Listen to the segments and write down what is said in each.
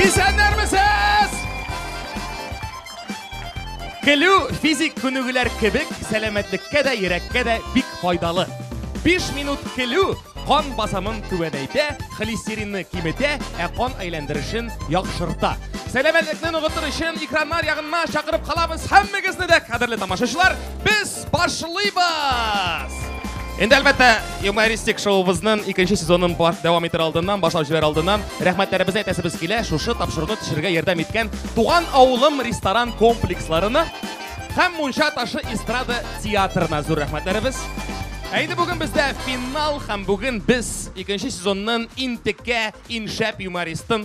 Исәннәрмесез! Көлү физик күнегүләр кебек сәламәтлеккә дә, йөрәккә дә бик файдалы. 5 минут көлү кан басымын түбәнәйтә, холестеринны киметә, ә кан әйләндерешен яхшырта. Сәламәтлекне ныгытыр өчен экраннар ягына чакырып калабыз һәммәгезне дә, кадерле тамашачылар. Без Башлыйбыз! Инде әлбәттә, юмористик шоубызның икенче сезонын дәвам итер алдыннан, башлап җибәр алдыннан, рәхмәтләребезне әйтәсебез килә, шушы тапшыруны төшерергә ярдәм иткән Туган авылым ресторан комплексларына һәм Мунча ташы эстрада театрына зур рәхмәтләребез. Ә инде бүген бездә финал һәм бүген без икенче сезонның интеккә иншәп юмористын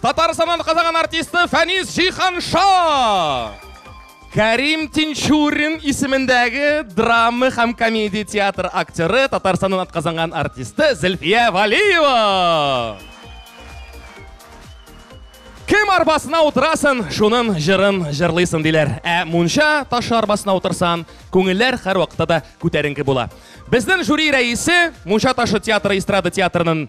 Татарстаннан Казаган артисты Фәнис Җиһанша! Кәрим Тинчурин исемендәге драма һәм комедия театр актеры, Татарстаннан атказанган артисты Зөлфия Валиева! Кем арбасына утырасын, шунын җырын җырлыйсын диләр. Ә мунча ташы арбасына утырсан, күңелләр һәр вакытта да күтәренке була. Безнең жюри рәисе, мунча ташы театры эстрада театрының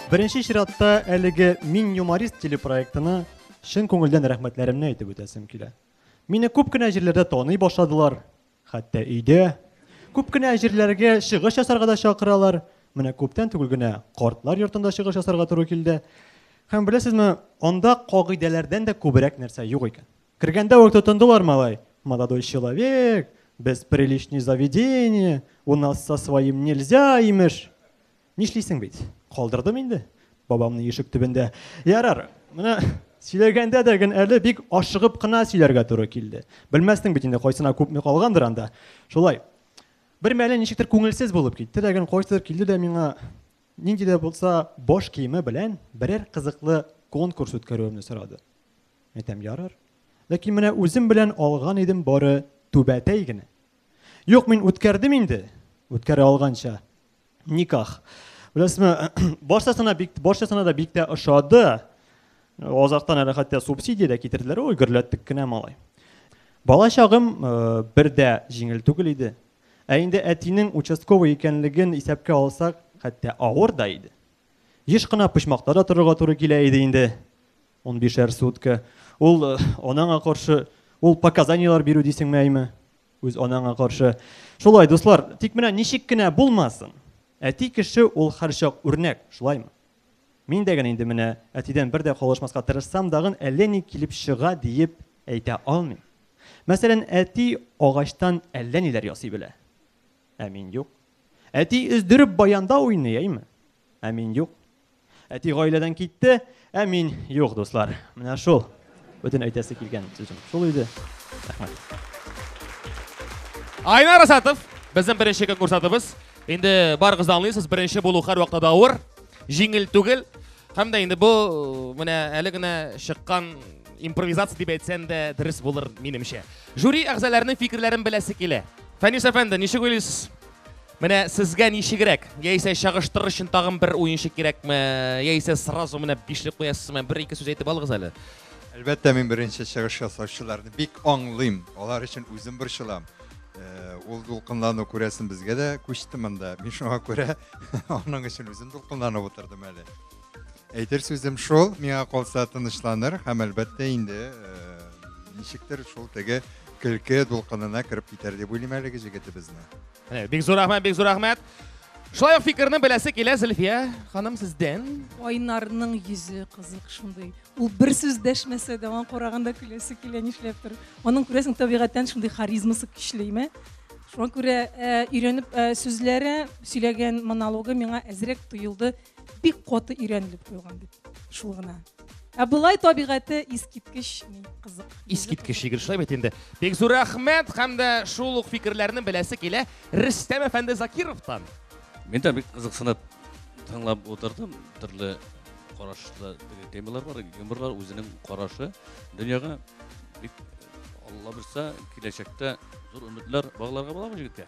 Беренче чиратта әлеге Мин юморист телепроектына чын күңелдән рәхмәтләремне әйтеп үтәсем килә. Мине күп кенә җирләрдә таный башладылар, хәтта өйдә. Күп кенә җирләргә чыгыш ясарга да чакыралар. Менә күптән түгел генә картлар йортында чыгыш ясарга туры килде. Һәм беләсезме, анда кагыйдәләрдән дә күбрәк нәрсә юк икән. Кергәндә үк тотындылар малай. Молодой человек, без приличный заведение, у нас со своим нельзя, имеш. Нишлисең бит, калдырдым инде бабамны ишек төбендә. Ярар, менә сөйләгәндә дә генә әле бик ашыгып кына сөйләргә туры килде. Белмәстең бит инде кайсына күпме калгандыр анда. Шулай. Бер мәле ничектер күңелсез булып китте дә генә кайсыдыр килде дә миңа нинди дә булса баш киеме белән берәр кызыклы конкурс үткәрүемне сорады. Әйтәм, ярар. Ләкин менә үзем белән алган идем бары түбәтәй генә. Юк, мин үткәрдем инде, үткәрә алганча. Никах. Беләсезме, баршасына бик баршасына да бик тә ошады. Азактан әле хәтта субсидия дә китерделәр. Ой, гөрләттек кенә малай. Бала чагым э, бер дә җиңел түгел иде. Ә инде әтинең участковый икәнлеген исәпкә алсак, хәтта авыр да иде. Еш кына почмакта да торырга туры килә иде инде. 15 сутка. Ул э, анаңа каршы ул показанияләр бирү дисеңме әйме? Үз анаңа каршы. Шулай, дуслар, тик менә ничек кенә булмасын. Әти кеше ул һәрчак үрнәк, шулаймы? Мин дә генә инде менә әтидән бер дә калышмаска тырышсам дагын әллә ни килеп чыга диеп әйтә алмыйм. Мәсәлән, әти агачтан әллә ниләр ясый белә. Ә мин юк. Әти өздереп баянда уйный, әйме? ә мин юк. Әти гаиләдән китте, ә мин юк, дуслар. Менә шул. Бүтән әйтәсе килгән сүзем. Шул иде. Рәхмәт. Айна Расатов, безнең беренче конкурсантыбыз. Инде барыгыз да аңлыйсыз, беренче булу һәр вакытта да авыр, җиңел түгел. Һәм дә инде бу менә әле генә чыккан импровизация дип әйтсәң дә дөрес булыр, минемчә. Жюри әгъзаларының фикерләрен беләсе килә. Фәнис әфәнде, ничек уйлыйсыз? Менә сезгә ничегрәк? Яисә чагыштырыр өчен тагын бер уенчы кирәкме? Яисә сразу менә бишлек куясызмы? Бер ике сүз әйтеп алыгыз әле. Әлбәттә, мин беренче чыгыш ясаучыларны бик аңлыйм. Алар өчен үзем борчылам. Э, ул дулкынлану күрәсен безгә дә күчте монда. Мин шуңа күрә аның өчен үзем дулкынланып утырдым әле. Әйтер сүзем шул, миңа калса тынычланыр һәм әлбәттә инде э, ничектер шул теге көлке дулкынына кереп китәр дип уйлыйм әлеге җегетебезне. Э, бик зур рәхмәт, бик зур рәхмәт. Шулай ук фикерне беләсе килә Зөлфия ханым сездән. Айнарның йөзе кызык шундый. Ул бер сүз дәшмәсә дә, аңа караганда көләсе килә нишләптер. Аның күрәсең табигатьтән шундый харизмасы көчлеме? Шуңа күрә э, өйрәнеп э, сүзләре, сөйләгән монологы миңа әзрәк тоелды. Бик каты өйрәнелеп куелган бит. Шул гына. Ә былай табигате искиткеч ни кызык. Искиткеч егет шулай бит инде. Бик зур рәхмәт һәм дә шул ук фикерләрне беләсе килә Рөстәм әфәнде Закировтан. Мин дә бик кызыксынып тыңлап утырдым. Төрле карашлы темалар бар, юморлар үзенең карашы дөньяга бик Алла бирсә, киләчәктә зур өметләр багларга була бу җегеткә.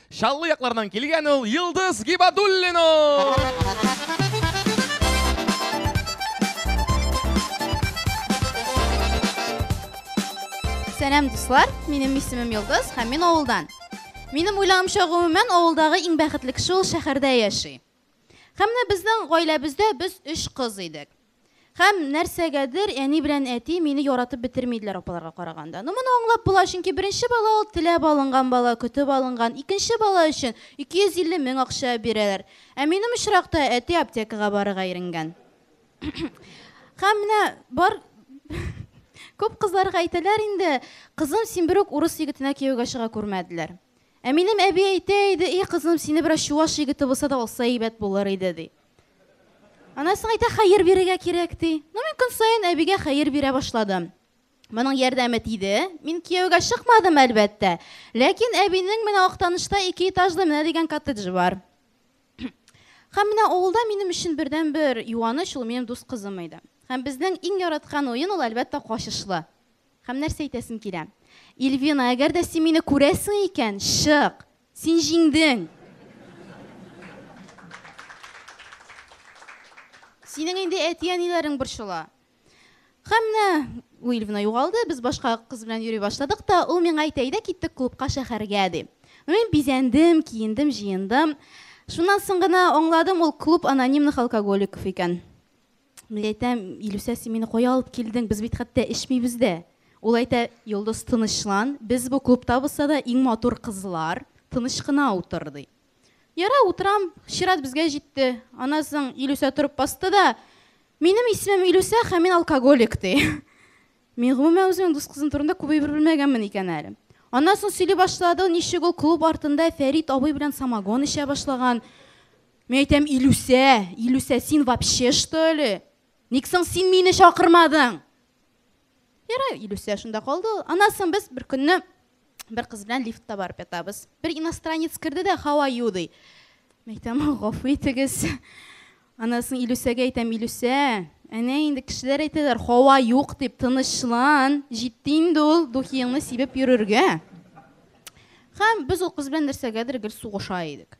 Чаллы якларыннан килгән ул Йылдыз Гибадуллина! Сәлам, дуслар! Минем исемем Йылдыз һәм мин авылдан. Минем уйлавымча, гомумән, авылдагы иң бәхетле кеше ул шәһәрдә яши. Һәм менә безнең гаиләбездә без өч кыз идек. Һәм нәрсәгәдер әни белән әти мине яратып бетермиделәр апаларга караганда. Ну, моны аңлап була, чөнки беренче бала ул теләп алынган бала, көтеп алынган. Икенче бала өчен 250 мең акча бирәләр. Ә минем очракта әти аптекага барырга иренгән. Һәм менә бар күп кызларга әйтәләр инде, кызым, син берүк урыс егетенә кияүгә чыга күрмәделәр. Ә минем әби әйтә иде, и кызым, сине бераз чуваш егете булса да алса әйбәт булыр иде, ди. Аннан соң әйтә, хәер бирергә кирәк, ди. Ну, мин көн саен әбигә хәер бирә башладым. Моның ярдәме тиде. Мин кияүгә чыкмадым, әлбәттә. Ләкин әбинең менә Актанышта ике этажлы менә дигән коттеджы бар. Һәм менә авылда минем өчен бердәнбер юаныч ул минем дус кызым иде. Һәм безнең иң яраткан уен ул, әлбәттә, качышлы. Һәм нәрсә әйтәсем килә? Ильвина, әгәр дә син мине күрәсең икән, чык! Син җиңдең! Синең инде әти-әниләрең борчыла. Һәм менә у Ильвина югалды, без башка кыз белән йөри башладык та, ул миңа әйтә, әйдә киттек клубка шәһәргә, ди. Мин бизәндем, киендем, җыендым. Шуннан соң гына аңладым, ул клуб анонимных алкоголиков икән. Мин әйтәм, Илүсә, син мине кая алып килдең, без бит хәтта эчмибез дә. Ул әйтә, Йолдыз, тынычлан, без бу клубтабыз да иң матур кызлар, тыныч кына утыр, ди. Ярар, утырам, чират безгә җитте. Аннан соң Илүсә торып басты да, Минем исемем Илүсә һәм мин алкоголик, ди. Мин, гомумән, үземнең дус кызым турында күп әйбер белмәгәнмен икән әле. Аннан соң сөйли башлады, ничек ул клуб артында Фәрит абый белән самогон эчә башлаган. Мин әйтәм, Илүсә, Илүсә, син вообще что ли? Ник соң син мине чакырмадың? Ярай, Илүсә шунда калды. Анасын без бер көнне бер кыз белән лифтта барып ятабыз. Бер иностранец керде дә, how are you ди. Мин әйтәм, гафу итегез. Анасын Илүсәгә әйтәм, Илүсә, әнә инде кешеләр әйтәләр, һава юк дип, тынычлан, җитте инде ул духиеңны сибеп йөрергә. Һәм без ул кыз белән нәрсәгәдер гел сугыша идек.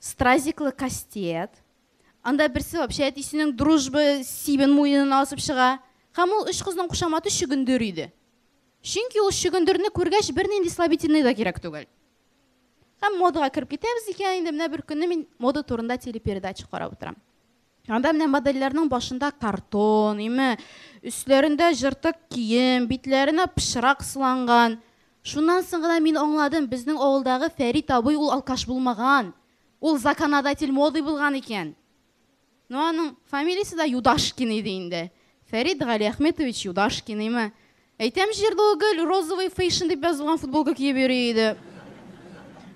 Стразиклы кастет. Анда берсе вообще әтисенең дружба сибен муенына асып чыга. Һәм ул өч кызның кушаматы чөгендер иде. Чөнки ул чөгендерне күргәч бернинди слабительный да кирәк түгел. Һәм модага кереп китәбез икән, инде менә бер көнне мин мода турында телепередача карап утырам. Анда менә модельләрнең башында картон, име, өсләрендә җыртык кием, битләренә пычрак сыланган. Шуннан соң гына мин аңладым, безнең авылдагы Фәрит абый ул алкаш булмаган. Ул законодатель моды булган икән. Ну аның фамилиясе дә Юдашкин иде инде. Фәрит Галиәхметович Юдашкин, име. Әйтәм җирле гел розовый фейшн дип язылган футболка киеп йөри иде.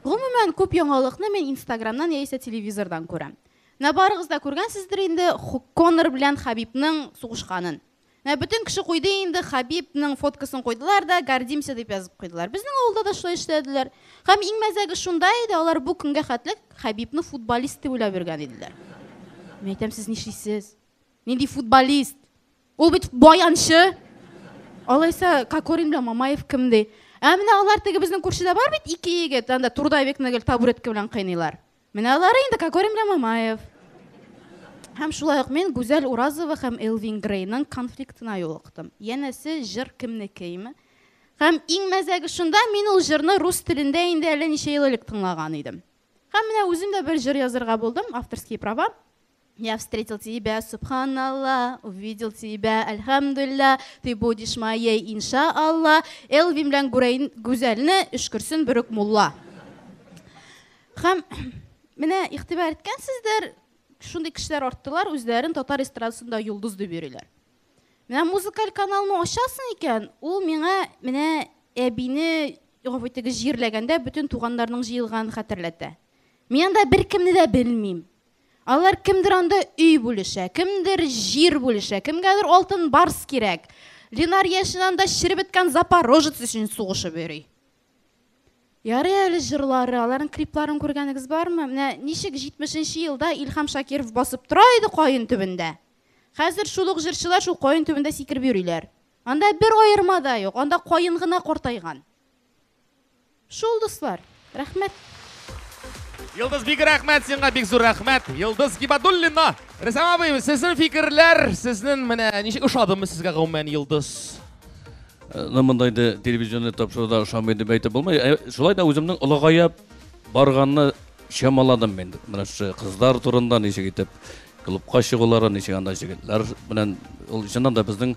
Гомумән, күп яңалыкны мин Инстаграмнан яисә телевизордан күрәм. Менә барыгыз да күргәнсездер инде Конор белән Хабибның сугышканын. Менә бөтен кеше куйды инде, Хабибның фоткасын куйдылар да, гордимся дип язып куйдылар. Безнең авылда да шулай эшләделәр. Һәм иң мәзәге шунда иде, алар бу көнгә хәтле Хабибны футболист дип уйлап йөргән иделәр. Мин әйтәм, сез нишлисез? Нинди футболист? Ул бит баянчы! Алайса, Кокорин белән Мамаев кем ди? Ә менә алар теге безнең күршедә бар бит ике егет, анда трудовикны гел табуретка белән кыйныйлар. Менә алары инде Кокорин белән Мамаев. Һәм шулай ук мин Гүзәл Уразова һәм Элвин Грейның конфликтына юлыктым. Янәсе, җыр кемнекеме? Һәм иң мәзәге шунда, мин ул җырны рус телендә инде әллә ничә ел элек тыңлаган идем. Һәм менә үзем дә бер җыр язырга булдым, авторские права. Я встретил тебя, субханалла, увидел тебя, әлхәмдулилла, ты будешь моей, инша Алла, Элвин белән Гүрәйн Гүзәлне өшкерсен берүк мулла. Хәм менә игътибар иткәнсездер, шундый кешеләр арттылар, үзләрен татар эстрадасында йолдыз дип йөриләр. Менә музыкаль каналны ачасың икән, ул миңа менә әбине гафу итегез, җирләгәндә бөтен туганнарның җыелганын хәтерләтә. Мин анда беркемне дә белмим. Алар кемдер анда өй бүлешә, кемдер җир бүлешә, кемгәдер алтын барс кирәк. Ленар яшен анда череп беткән запорожец өчен сугышып йөри. Ярый әле җырлары, аларның крипларын күргәнегез бармы? Менә ничек 70 елда Илхам Шакиров басып тора иде каен төбендә. Хәзер шул ук җырчылар шул каен төбендә сикереп йөриләр. Анда бер аерма да юк, анда каен гына картайган. Шул дуслар, рәхмәт. Йолдыз бик рәхмәт сиңа, бик зур рәхмәт. Йолдыз Гибадуллина. Рәсәм абый, сезнең фикерләр, сезнең менә ничек ошадымы сезгә гомумән Йолдыз? Э, ну, монда инде телевизионный тапшыруда ошамый дип әйтеп булмый. Э, шулай да үземнең олыгая барганны чамаладым мин. Менә шу кызлар турында ничек итеп клубка чыгулары, ничек анда җегетләр белән ул чыннан да безнең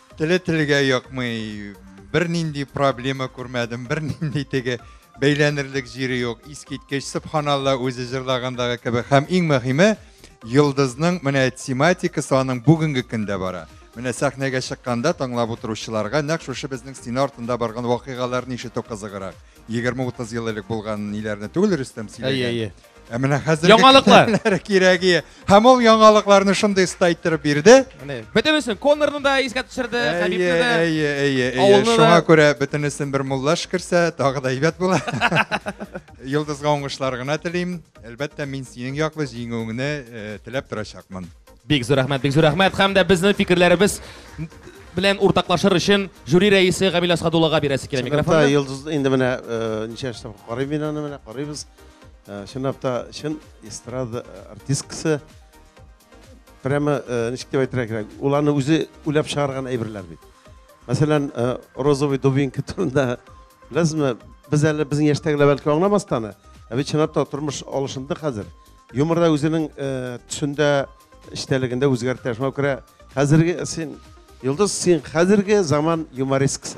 Теле телгә якмый, бернинди проблема күрмәдем, бернинди теге бәйләнерлек җире юк. Искиткеч, субханалла, үзе җырлагандагы кебек. Һәм иң мөһиме, Йолдызның менә тематикасы аның бүгенге көндә бара. Менә сәхнәгә чыкканда тыңлап утыручыларга нәкъ шушы безнең стена артында барган вакыйгаларны ишетү кызыграк. 20-30 ел элек булган ниләрне түгел Рөстәм сөйләгән. Әйе, әйе. Ә менә хәзер яңалыклар кирәге. Һәм ул яңалыкларны шундый оста иттереп бирде. Менә. Бөтенесен Коннорны да искә төшерде, Хәбибне дә. Әйе, әйе, әйе. Шуңа күрә бөтенесен бер муллаш керсә, тагы да әйбәт була. Йолдызга уңышлар гына телим. Әлбәттә, мин синең яклы җиңүеңне э, теләп торачакмын. Бик зур рәхмәт, бик зур рәхмәт. Һәм дә безнең фикерләребез белән уртаклашыр өчен жюри рәисе Гамил Асхадуллага бирәсе килә микрофонны. Йолдыз инде менә э, ничә эштә карыйм мин аны менә карыйбыз. Э, чынлап та чын эстрада э, артисткасы прямо э, ничек дип әйтергә кирәк ул аны үзе уйлап чыгарган әйберләр бит мәсәлән розовый дубинка турында беләсезме без әле безнең яшьтәгеләр бәлки аңламас та аны ә бит чынлап та тормыш алышынды хәзер юмор да үзенең төсендә эчтәлегендә үзгәртә шуңа күрә хәзерге син йолдыз син хәзерге заман юмористкасы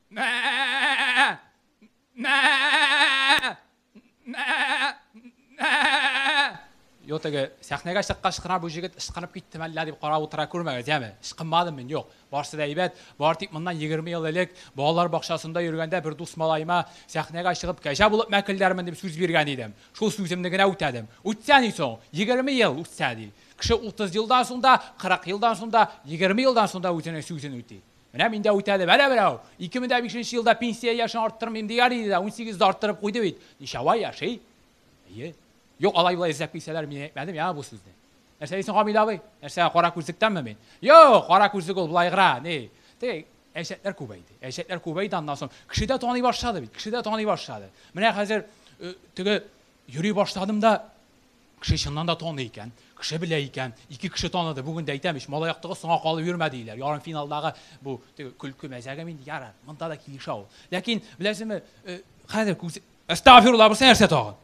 Йо теге сәхнәгә чыккач кына бу җегет ычкынып киттеме әллә дип карап утыра күрмәгез, яме? Ычкынмадым мин, юк. Барсы да әйбәт. Бар тик моннан 20 ел элек балалар бакчасында йөргәндә бер дус малаема сәхнәгә чыгып кәҗә булып мәкелдәрмен дип сүз биргән идем. Шул сүземне генә үтәдем. Үтсә ни соң? 20 ел үтсә ди. Кеше 30 елдан соң да, 40 елдан соң да, 20 елдан соң да үзенең сүзен үти. Менә мин дә үтәдем. Әнә берәү, 2005 нче елда пенсия яшен арттырмыйм дигән иде дә, 18 дә арттырып куйды бит. Ничава яши? Әйе. Юк, алай-болай эзләп килсәләр, мин әйтмәдем яңа бу сүзне. Нәрсә дисең, Гамил абый? Нәрсә, кара күзлектәнме мин? Юк, кара күзлек ул былайгыра, ни. Теге әҗәтләр күбәйде. Әҗәтләр күбәйде, аннан соң кеше дә таный башлады бит, кеше дә таный башлады. Менә хәзер э, теге йөри башладым да, Кеше чыннан да таный икән, кеше белә икән, ике кеше таныды, бүген дә әйтәм ич, малай яктыгы соңга калып йөрмә диелә, ярымфиналдагы бу теге көлке мәзәгем инде, ярар, монда да килешә ул. Ләкин, беләсезме, э, хәзер күз... Әстәгъфирулла, бусы нәрсә тагын?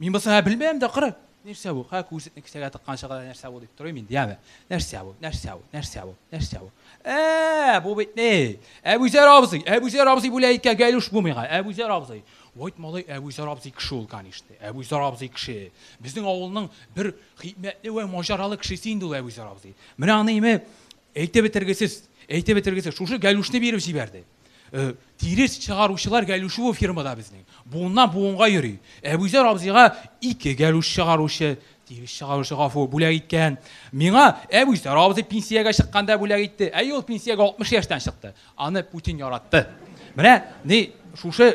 Мин бусы һә белмәям дә, кыры. Нәрсә бу? Хә, күзлекне кесәгә тыкканчы гына нәрсә бу дип торыйм инде, яме. Нәрсә бу? Нәрсә бу? Нәрсә бу? Нәрсә бу? Ә, бу бит ни? Әбүзәр абзый, Әбүзәр абзый бүлә икән, Гәйлүш бу миңа, Әбүзәр абзый. Вәйт малай Әбүзәр абзый кеше ул, канишне. Әбүзәр абзый кеше. Безнең авылның бер хикмәтле вә маҗаралы кешесе инде ул Әбүзәр абзый. Менә аны име әйтеп бетергесез, әйтеп бетергесез. Шушы Гәлүшне биреп җибәрде. Тирес чыгаручылар Гәлүше бу фирмада безнең. Буыннан-буынга йөри. Әбүзәр абзыйга ике Гәлүш чыгаручы, тирес чыгаручы, гафу, бүләк иткән. Миңа Әбүзәр абзый пенсиягә чыкканда бүләк итте. Әйе, ул пенсиягә 60 яшьтән чыкты. Аны Путин яратты. Менә ни шушы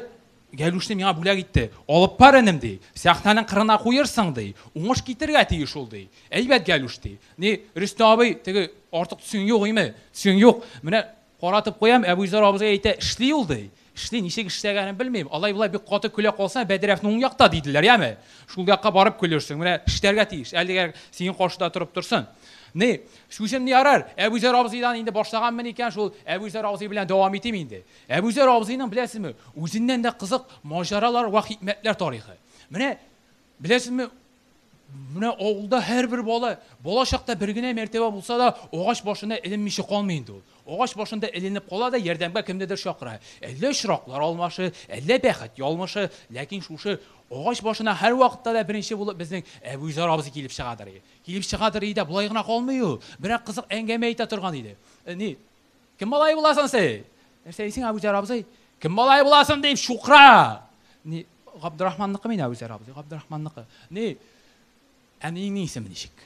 Гәлүшне миңа бүләк итте. Алып бар энем ди. Сәхнәнең кырына куерсың ди. Уңыш китергә тиеш ул ди. Әйбәт Гәлүш ди. Ни Рөстә абый теге артык төсең юк име? Төсең юк. Менә каратып куям, Әбүзәр абызга әйтә, эшли ул ди. Эшли, ничек эшләгәнен белмим. Алай болай бик каты көлә калсаң, Бәдрәфне уң якта диделәр, яме. Шул якка барып көлерсең. Менә эшләргә тиеш. Әлегә синең каршыда торып торсын. Ни Сүзем ни ярар, Әбүзәр абзыйдан инде башлаганмын икән шул, Әбүзәр абзый белән дәвам итим инде. Әбүзәр абзыйның, беләсезме, үзеннән дә кызык маҗаралар вә хикмәтләр тарихы. Менә, беләсезме, менә авылда һәрбер бала, бала чакта бер генә мәртәбә булса да, агач башына эленмичә калмый инде ул. Агач башында эленеп кала да, ярдәмгә кемнедер чакыра. Әллә очраклар алмашы, әллә бәхет ялмышы, ләкин шушы агач башына һәрвакытта да беренче булып безнең Әбүзәр абзый килеп чыгадыр. Килеп чыгадыр иде дә, болай гына калмый ул. Берәр кызык әңгәмә әйтә торган иде. Э, ни, кем малае буласың син? Нәрсә дисең, Әбүзәр абзый? Кем малае буласың дип, чукра! Ни, Габдрахманныкы мин, Әбүзәр абзый, Габдрахманныкы. Ни, әниеңнең исеме ничек?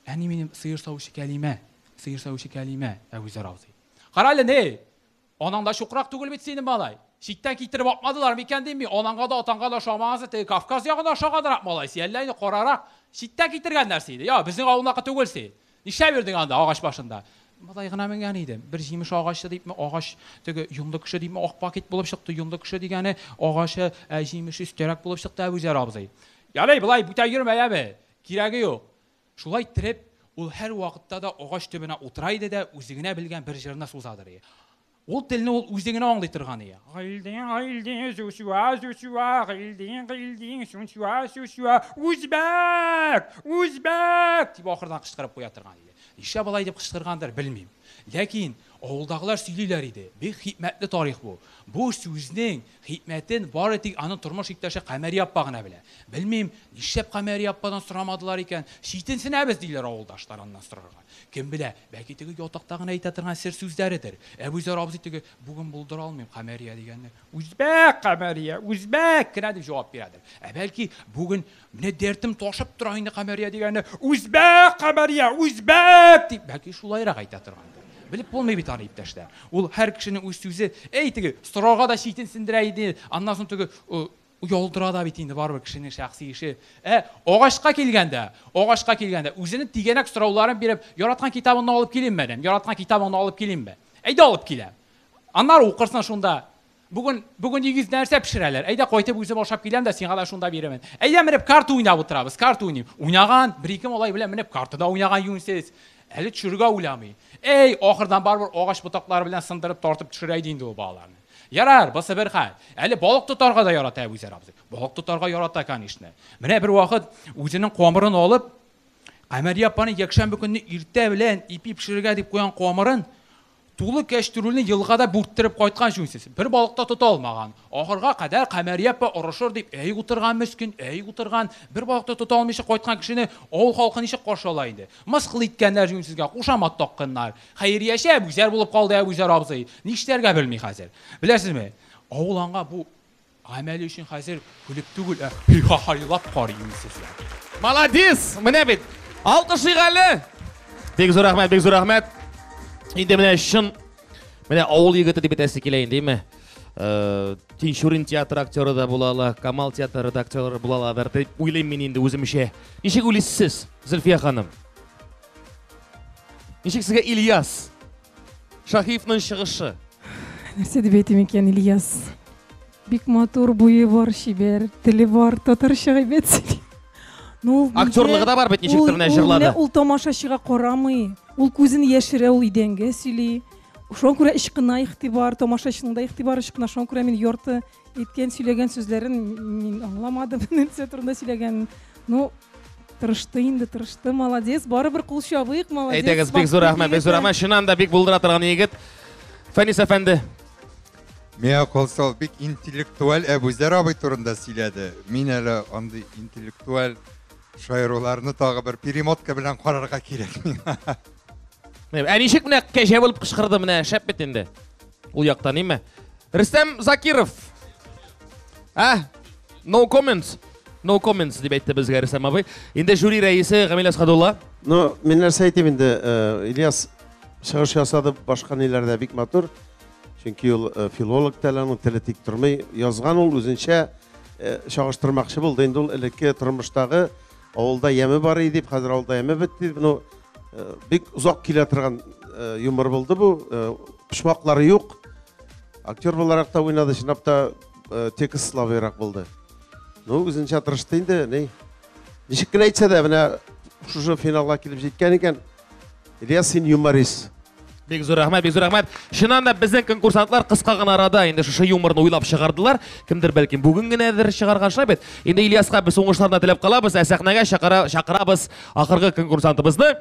Әни минем сыер савучы Кәлимә, сыер савучы Кәлимә, Әбүзәр абзый. Кара әле, ни, Анаң да чукрак түгел бит синең, малай. Читтән китереп апмадылар микән дим мин, анаңга да, атаңга да ошамагансы, теге Кавказ ягына ошаганрак малай син, әллә инде карарак, читтән китергәннәр сине, йә, безнең авылныкы түгел син. Нишләп йөрдең анда, агач башында? Малай гына менгән идем. Бер җимеш агачы дипме, агач, теге йонлы кеше дипме, ак пакет булып чыкты, йонлы кеше дигәне, агачы, ә җимеше өстәрәк булып чыкты, Әбүзәр абзый. Ярый, болай бүтән йөрмә, яме. Кирәге юк. Шулай иттереп, ул һәр вакытта да агач төбенә утыра иде дә үзе генә белгән бер җырны сузадыр ие. Ул телне ул үзе генә аңлый торган ие. Гыйлдин, гыйлдин, зусюа, зусюа, гыйлдин, гыйлдин, сунсюа, сусюа, үзбәк! Үзбәк! дип ахырдан кычкырып куя торган иде. Нишләп алай дип кычкыргандыр, белмим. Ләкин авылдагылар сөйлиләр иде. Бик хикмәтле тарих бу. Бу сүзнең Хикмәтен бары тик аның тормыш иптәше Камәрия апа гына белә. Белмим, нишләп Камәрия ападан сорамадылар икән? Читенсенәбез, диләр авылдашлар аннан сорарга. Кем белә, бәлки теге ятакта гына әйтә торган сер сүзләредер. Әбүзәр абзый теге, Бүген булдыра алмыйм, Камәрия, дигәнне, Үзбәк, Камәрия, үзбәк кенә, дип җавап бирәдер. Ә бәлки, бүген Менә дәртем ташып тора инде Камәрия дигәне. Үзбәк Камәрия, үзбәк дип, бәлки шулайрак әйтә торгандыр. Белеп булмый бит аны, иптәшләр. Ул һәр кешенең үз сүзе, әй теге сорарга да читен сендерә иде, аннан соң теге оялдыра да бит инде барыбер кешенең шәхси эше. Ә агачка килгәндә, агачка килгәндә үзенең тигәнәк сорауларын биреп, яраткан китабыңны алып килимме, дим, яраткан китабыңны алып килимме? Әйдә алып киләм. Аннары укырсың шунда. Бүген, бүген дигез нәрсә пешерәләр? Әйдә кайтып үзем ашап киләм дә сиңа да шунда бирәмен. Әйдә менеп карта уйнап утырабыз, карта уйныйм. Уйнаган, бер-ике малай белән менеп карта да уйнаган юньсез. Әле төшерергә уйламый. Әй, ахырдан барыбер агач ботаклары белән сындырып тартып төшерә иде инде ул балаларны. Ярар, бусы бер хәл. Әле балык тотарга да ярата Әбүзәр абзый. Балык тотарга ярата, конечно. Менә бер вакыт үзенең камырын алып, Камәрия апаның якшәмбе көнне иртә белән ипи пешерергә дип куйган камырын Тулы кәчтүрүлне елгада бүрттереп кайткан җүнсез. Бер балык та тота алмаган. Ахырга кадәр Камәрия апа орышыр дип әй утырган мескен, әй утырган. Бер балык та тота алмыйча кайткан кешене авыл халкы ничек каршы ала инде? Мыскыл иткәннәр җүнсезгә, кушамат такканнар. Хәйрияче Әбүзәр булып калды Әбүзәр абзый. Нишләргә белми хәзер. Беләсезме, авыл аңа бу Гамәл өчен хәзер көлеп түгел, ә һи-ха-һайлап карыйм сезгә. Маладис! Менә бит! Алкышлыйк әле! Бик зур рәхмәт, бик зур рәхмәт. Инде менә чын менә авыл егете дип әйтәсе килә инде, әйме? Э, Тинчурин театры актеры да була ала, Камал театры да актеры була аладыр дип уйлыйм мин инде үземчә. Ничек уйлыйсыз сез, Зөлфия ханым? Ничек сезгә Ильяс? Шаһивның чыгышы. Нәрсә дип әйтим икән, Ильяс? Бик матур буе бар, чибәр, теле бар, татарча әйбәт сөйли. Ну, ул Актерлыгы да бар бит, ничек ул- менә ул җырлады. менә Ул тамашачыга карамый. Ул күзен яшерә, ул идәнгә сөйли. Шуңа күрә ычкына игътибар, тамашачының да игътибары ычкына. Шуңа күрә мин ярты Әйткән, сөйләгән сүзләрен мин аңламадым, нәрсә турында сөйләгәнен. Ну, тырышты инде, тырышты, молодец. Барыбер кул чабыйк, молодец. Әйдәгез, бик зур рәхмәт, бик зур рәхмәт. Чыннан да бик булдыра торган егет. Фәнис әфәнде. Миңа калса, бик интеллектуаль Әбүзәр абый турында сөйләде. Мин әле андый интеллектуаль шаяруларны тагы бер перемотка белән карарга кирәк миңа. Ә ничек менә кәҗә булып кычкырды менә, шәп бит инде. Ул якта ниме? Рөстәм Закиров. Ә? No comments. No comments дип әйтте безгә Рөстәм абый. Инде жюри рәисе Гамил Асхадулла. Ну, мин нәрсә әйтим инде, э, Ильяс чыгыш ясады башка ниләрдә бик матур. Чөнки ул э, филолог та аның теле тик тормый. Язган ул үзенчә э, чагыштырмакчы булды инде ул элекке тормыштагы Авылда яме бар иде дип, хәзер авылда яме бетте дип, ну, э, бик озак килә торган э, юмор булды бу. Э, почмаклары юк. Актер буларак та уйнады, чынлап та э, текст слабыйрак булды. Ну, үзенчә тырышты инде, ни. Ничек кенә әйтсә дә, менә шушы финалга килеп җиткән икән, Ильяс, син юморист. Бик зур рәхмәт, бик зур рәхмәт. Чыннан да безнең конкурсантлар кыска гына арада инде шушы юморны уйлап чыгардылар. Кемдер бәлки бүген генәдер чыгарган шулай бит. Инде Ильяска без уңышларны теләп калабыз, ә сәхнәгә чакыра, чакырабыз ахыргы конкурсантыбызны.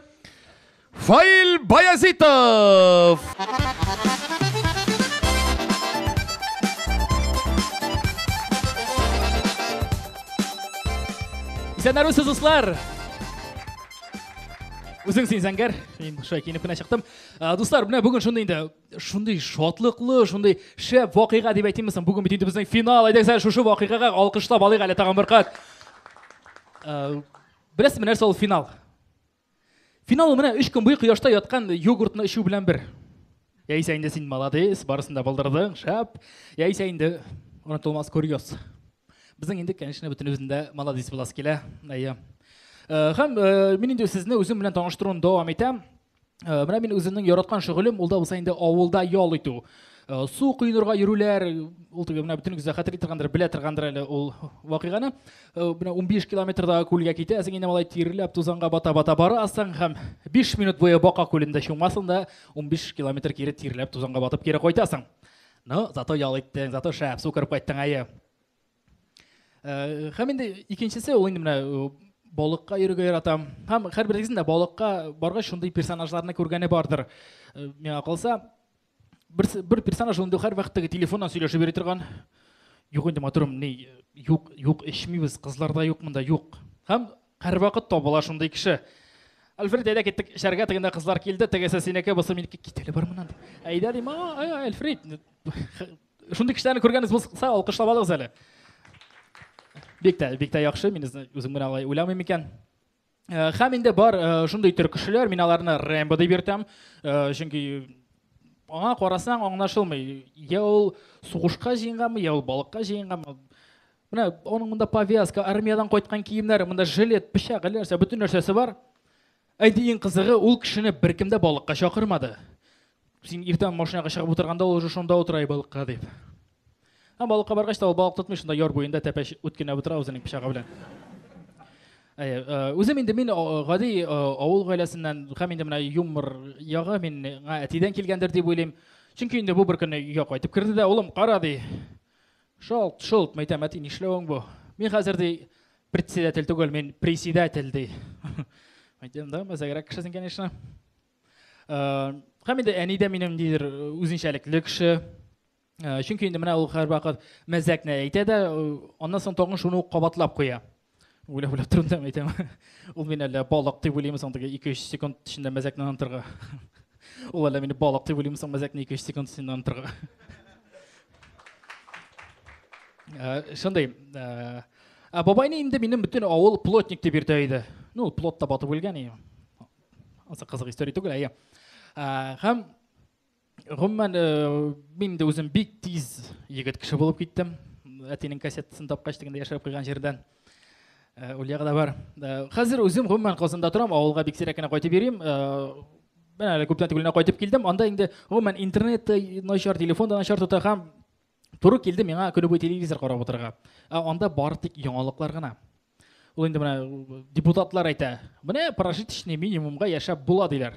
Фаил Баязитов! Исәннәр үсез, дуслар! Үзең син зәңгәр, мин шулай киенеп кенә чыктым. Дуслар, менә бүген шундый инде, шундый шатлыклы, шундый шәп вакыйга дип әйтимме соң? Бүген бит инде безнең финал. Әйдәгез әле шушы вакыйгага алкышлап алыйк әле тагын бер кат. Беләсезме нәрсә ул финал? Финал ул менә 3 көн буе кояшта яткан йогуртны эчү белән бер. Яисә инде син молодец, барысын да булдырдың, шәп. Яисә инде онытылмас курьез. Безнең инде, конечно, бөтенебезнең дә молодец буласы килә. Әйе. Э, һәм э, мин инде сезне үзем белән таныштыруны дәвам итәм. Э, менә мин үземнең яраткан шөгылем, ул да булса инде авылда ял итү. Э, су коенырга йөрүләр ул теге менә бөтенегез дә хәтер итергәндер белә торгандыр әле ул вакыйганы э, менә 15 километрдагы күлгә китәсең инде малай тиреләп тузанга бата бата барасың һәм 5 минут буе бака күлендә чумасың да 15 километр кире тиреләп тузанга батып кире кайтасың Ну, зато ял иттең, зато шәп, су кереп кайттың, әйе. Э, һәм инде икенчесе ул инде менә э, балыкка йөрергә яратам. Һәм һәрберегезнең дә балыкка баргач шундый персонажларны күргәне бардыр. Э, миңа калса, бер, бер персонаж инде һәрвакыт теге телефоннан сөйләшеп йөри торган. Юк инде матурым, ни, юк, юк, эчмибез, кызлар да юк монда, юк. Һәм Һәрвакыт табыла шундый кеше. Альфред, әйдә киттек эчәргә, тегендә кызлар килде, тегесе синеке, бусы минеке, кит әле бар моннан дип. Әйдә дим, Альфред, шундый кешеләрне күргәнегез булса, алкышлап алыгыз әле. Бик тә, бик тә яхшы, мин үзем генә алай уйламыйм икән. Хәм инде бар шундый төр кешеләр, мин аларны Рэмбо дип йөртәм, чөнки аңа карасаң аңлашылмый. Я ул сугышка җыенгамы, я ул балыкка җыенгамы, Менә аның монда повязка, армиядән кайткан киемнәре, монда жилет, пычак, әллә нәрсә, бөтен нәрсәсе бар. Әйди иң кызыгы, ул кешене беркем дә балыкка чакырмады. Син иртән машинага чыгып утырганда ул уже шунда утыра балыкка дип. Һәм балыкка баргач та ул балык тотмый, шунда яр буенда тәпәч үткенә утыра үзенең пычагы белән. Э, үзем инде мин гади авыл гаиләсеннән һәм инде менә юмор ягы мин әтидән килгәндер дип уйлыйм. Чөнки инде бу бер көнне өйгә кайтып керде дә, улым, кара ди, Шалт, шолт, мәйтәм, әти, нишләвең бу? Мин хәзер ди председатель түгел, мин председатель ди. Мәйтәм да, мәзәгрәк кеше син, конечно. Һәм инде әни дә минем нидер үзенчәлекле кеше. Чөнки инде менә ул һәрвакыт мәзәкне әйтә дә, аннан соң тагын шуны ук кабатлап куя. Уйлап уйлап торам да әйтәм. Ул мин әллә балык дип уйлыймы соң теге 2-3 секунд эчендә мәзәкне онытырга. Ул әллә мине балык дип уйлыймы соң мәзәкне 2-3 секунд эчендә онытырга. Э, шундый. Э, ә бабайны инде минем бөтен авыл плотник дип йөртә иде. Ну, плотта батып үлгән иде. Аса кызык история түгел, әйе. Э, һәм гомумән мин дә үзем бик тиз егет кеше булып киттем әтинең кассетасын тапкач дигәндә яшереп куйган җирдән ульяга да бар хәзер үзем гомумән казанда торам авылга бик сирәк кенә кайтып йөрим мен әле күптән түгел кайтып килдем анда инде гомумән интернет та начар телефон да начар тота һәм туры килде миңа көне буе телевизор карап утырырга ә анда бары тик яңалыклар гына ул инде менә депутатлар әйтә менә прожиточный минимумга яшәп була диләр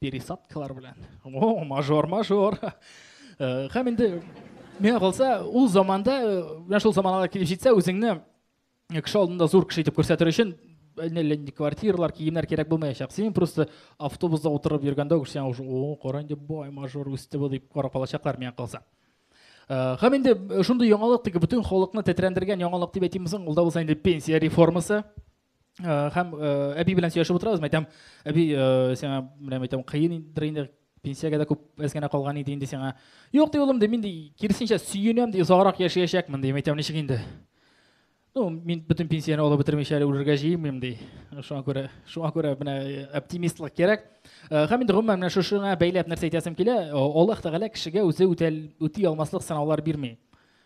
пересадкалар белән о мажор мажор э, һәм инде миңа калса ул заманда э, менә шул заманга килеп җитсә үзеңне кеше алдында зур кеше итеп күрсәтер өчен әллә нинди квартиралар киемнәр кирәк булмаячак син просто автобуста утырып йөргәндә үк сиңа уже о кара инде бай мажор үсте бу дип карап алачаклар миңа калса э, һәм инде шундый яңалык теге бөтен халыкны тетрәндергән яңалык дип әйтимме соң ул да булса инде пенсия реформасы Э, һәм э, әби белән сөйләшеп утырабыз мен әйтәм әби э, сиңа менә әйтәм кыендыр инде пенсиягә дә күп әз генә калган иде инде сиңа юк ди улым ди мин ди киресенчә сөенәм ди озаграк яшәячәкмен ди әйтәм ничек инде ну мин бөтен пенсияне алып бетермичә әле үлергә җыенмыйм ди шуңа күрә шуңа күрә менә оптимистлык кирәк һәм инде гомумән менә шушыңа бәйләп нәрсә әйтәсем килә аллаһ тәгалә кешегә үзе үти алмаслык сынаулар бирми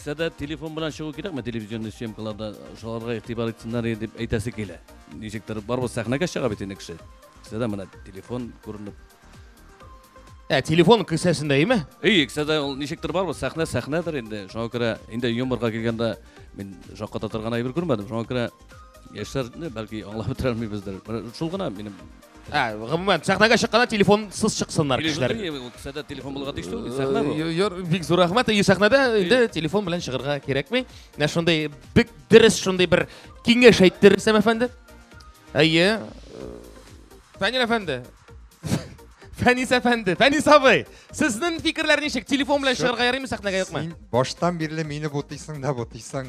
Сә дә телефон белән чыгу кирәкме телевизионный съемкаларда? Шуларга игътибар итсеннәр дип әйтәсе килә. Ничектер барыбыз сәхнәгә чыга бит инде кеше. Сә дә менә телефон күренеп. Ә телефон кесәсендә име? Ий, сә дә ул ничектер барыбыз сәхнә сәхнәдер инде. Шуңа күрә инде юморга килгәндә мин шакката торган әйбер күрмәдем. Шуңа күрә яшьләрне бәлки аңлап бетерә алмыйбыздыр. Шул гына минем А, гомумән, сәхнәгә чыкканда телефонсыз чыксыннар кешеләр. Сәдә телефон булырга тиеш түгел, сәхнә бу. Юр, бик зур рәхмәт. И сәхнәдә инде телефон белән чыгарга кирәкми. Менә шундый бик дөрес шундый бер киңәш әйтте Рөстәм әфәнде. Әйе. Фәнил әфәнде. Фәнис әфәнде, Фәнис абый, сезнең фикерләр ничек? Телефон белән чыгарга ярыймы сәхнәгә юкмы? Син баштан бирле мине бутыйсың да бутыйсың.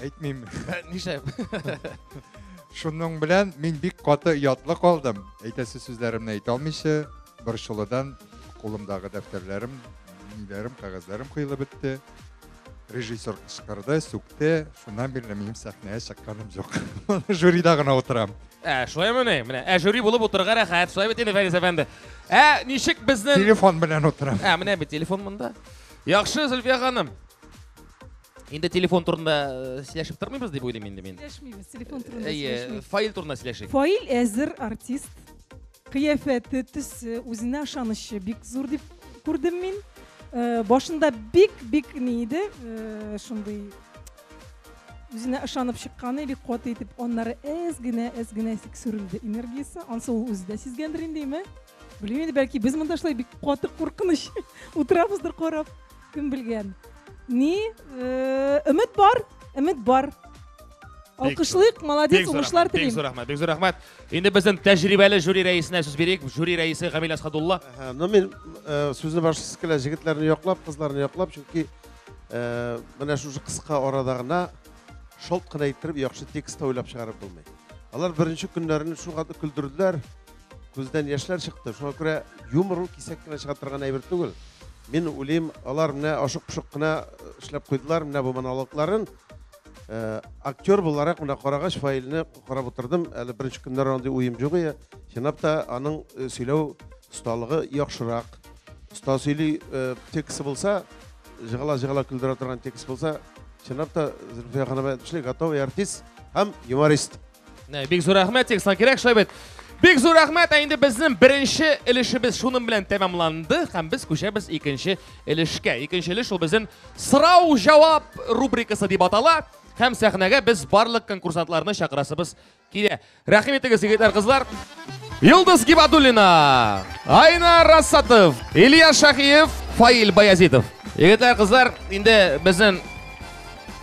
Әйтмим. Нишләп? Шуның белән мин бик каты ятлы калдым. Әйтәсе сүзләремне әйтә алмыйча, борчылудан кулымдагы дәфтәрләрем, ниләрем, кәгазьләрем кыйлып бетте. Режиссер кычкырды, сүкте. Шуннан бирле минем сәхнәгә чыкканым юк. Жюрида гына утырам. Ә, шулаймы ни? Менә, ә жюри булып утырырга рәхәт. Шулай бит инде Фәнис әфәнде. Ә, ничек безнең Телефон белән утырам. Ә, менә бит телефон монда. Яхшы, Зөлфия ханым. Инде телефон турында э, сөйләшеп тормыйбыз дип уйлыйм инде мин. Сөйләшмибез, телефон турында Әйе, сөйләшмибез. фаил турында сөйләшик. Фаил әзер артист. Кыяфәте, төсе, үзенә ышанычы бик зур дип күрдем мин. Э, Башында бик-бик ни иде, э, шундый үзенә ышанып чыкканы бик каты итеп, аннары әз генә, әз генә сик сүрелде энергиясе. Ансы ул үзе дә сизгәндер инде, име? Белмим инде, бәлки без монда шулай бик каты куркыныч утырабыздыр карап. Кем белгән. Ни? Э, Өмет бар, өмет бар. Алкышлык, молодец, уңышлар телим. Бик зур рәхмәт, бик зур рәхмәт. Инде безнең тәҗрибәле жюри рәисенә сүз бирик. Жюри рәисе Гамил Асхадулла. Ну мин э, сүзне башсыз килә, җегетләрне яклап, кызларны яклап, чөнки э, менә шушы кыска арада гына шалт кына иттереп яхшы текст уйлап чыгарып булмый. Алар беренче көннәрен шуңа күндерделәр. Күздән яшьләр чыкты. Шуңа күрә юмор ул кисәк кенә чыга торган әйбер түгел. Мин уйлыйм, алар менә ашык-пошык кына э, эшләп куйдылар менә бу монологларын. Э, актер буларак менә карагач файлны карап утырдым. Әле беренче көннәр андый уем юк иде. Чынлап та аның э, сөйләү осталыгы яхшырак. Оста сөйли тексты булса, жыгала-жыгала көлдерә торган текст булса, чынлап та Зөлфия ханым әйтмешли, готовый артист һәм юморист. Нә, бик зур рәхмәт, текстан кирәк шулай бит. Бик зур рәхмәт, ә инде безнең беренче өлешебез шуның белән тәмамланды һәм без күчәбез икенче өлешкә. Икенче өлеш ул безнең сорау-җавап рубрикасы дип атала һәм сәхнәгә без барлык конкурсантларны чакырасыбыз килә. Рәхим итегез, егетләр, кызлар. Йолдыз Гибадуллина, Айна Расатов, Илья Шахиев, Фаил Баязитов. Егетләр, кызлар, инде безнең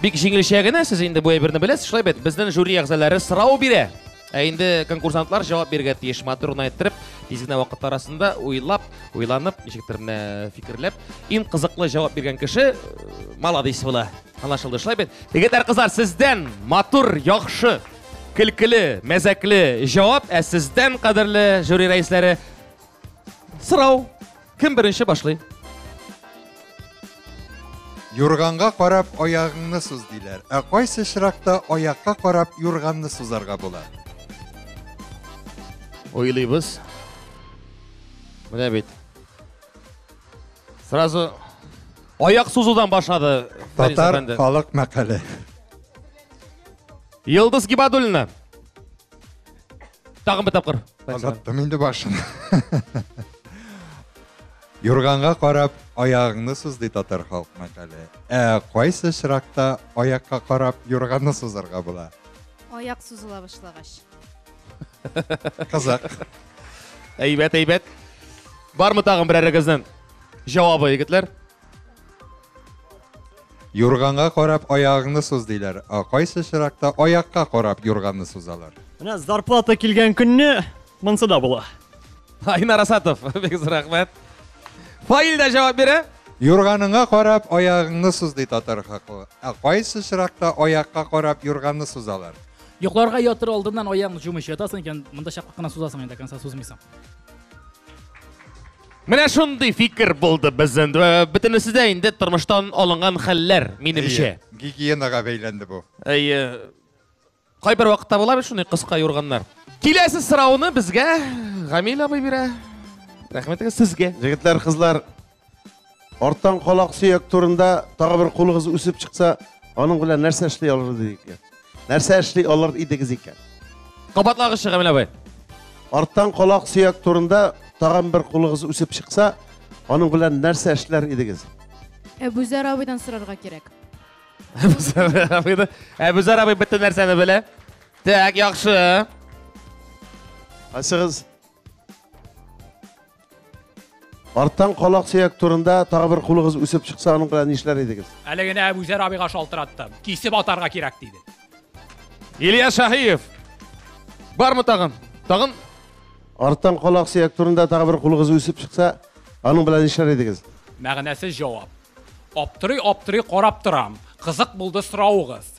Бик җиңелчә генә сез инде бу әйберне беләсез, шулай бит. Безнең жюри әгъзалары сорау бирә. Ә инде конкурсантлар җавап бирергә тиеш. Матур гына әйттереп, тиз генә вакыт арасында уйлап, уйланып, ничектер менә фикерләп, иң кызыклы җавап биргән кеше э, молодец була. Анлашылды, шулай бит. Егетләр, кызлар, сездән матур, яхшы, көлкеле, мәзәкле җавап, ә сездән, кадерле жюри рәисләре, Сорау. Кем беренче башлый? Юрганга карап аягыңны суз диләр. Ә кайсы очракта аякка карап юрганны сузарга була? Ойлыйбыз. Менә бит. Сразу аяк сузудан башлады. Татар халык мәкале. Йылдыз Гибадуллина. Тагын бер тапкыр. Озаттым инде башын. Юрганга карап, аягыңны суз ди татар халк мәкале. Ә кайсы очракта аякка карап юрганны сузарга була? Аяк сузыла башлагач. Кызык. Әйбәт, әйбәт. Бармы тагын берәрегезнең җавабы, егетләр? Юрганга карап аягыңны суз диләр. Ә кайсы чиракта аякка карап юрганны сузалар? Менә зарплата килгән көнне монсы да була. Айнар Асатов, бик зур рәхмәт. Фаил дә җавап бирә. Юрганыңа карап аягыңны суз ди татар хаклы. Ә кайсы чиракта аякка карап юрганны сузалар? Йокларга ятыр алдыннан аягыңны җумыйча ятасың икән, монда чаклы кына сузасың инде, конца сузмыйсың. Менә шундый фикер булды безнең. Бөтенесе дә инде тормыштан алынган хәлләр, минемчә. Гигиенага бәйләнде бу. Әйе. Кайбер вакытта була бит шундый кыска юрганнар. Киләсе сорауны безгә Гамил абый бирә. Рәхмәтегез сезгә. Җегетләр, кызлар, Арттан колак сөяк турында тагы бер кулыгыз үсеп чыкса, аның белән нәрсә эшли алыр идек икән? Нәрсә эшли алыр идегез икән? Кабатлагызчы, Камил абый. Арттан колак сөяк турында тагын бер кулыгыз үсеп чыкса, аның белән нәрсә эшләр идегез? Әбүзәр абыйдан сорарга кирәк. Әбүзәр абыйны. Әбүзәр абый бөтен нәрсәне белә. Так, яхшы. Асыгыз. Арттан калак сөяк турында тагы бер кулыгыз үсеп чыкса, аның белән нишләр идегез? Әле генә Әбүзәр абыйга шалтыратты. Кисеп атарга кирәк диде. Илья Шаһиев. Бармы тагын? Тагын? Арттан калак сөяк турында тагы бер кулыгыз үсеп чыкса, аның белән нишләр идегез? Мәгънәсез җавап. Аптырый-аптырый карап торам. Кызык булды соравыгыз.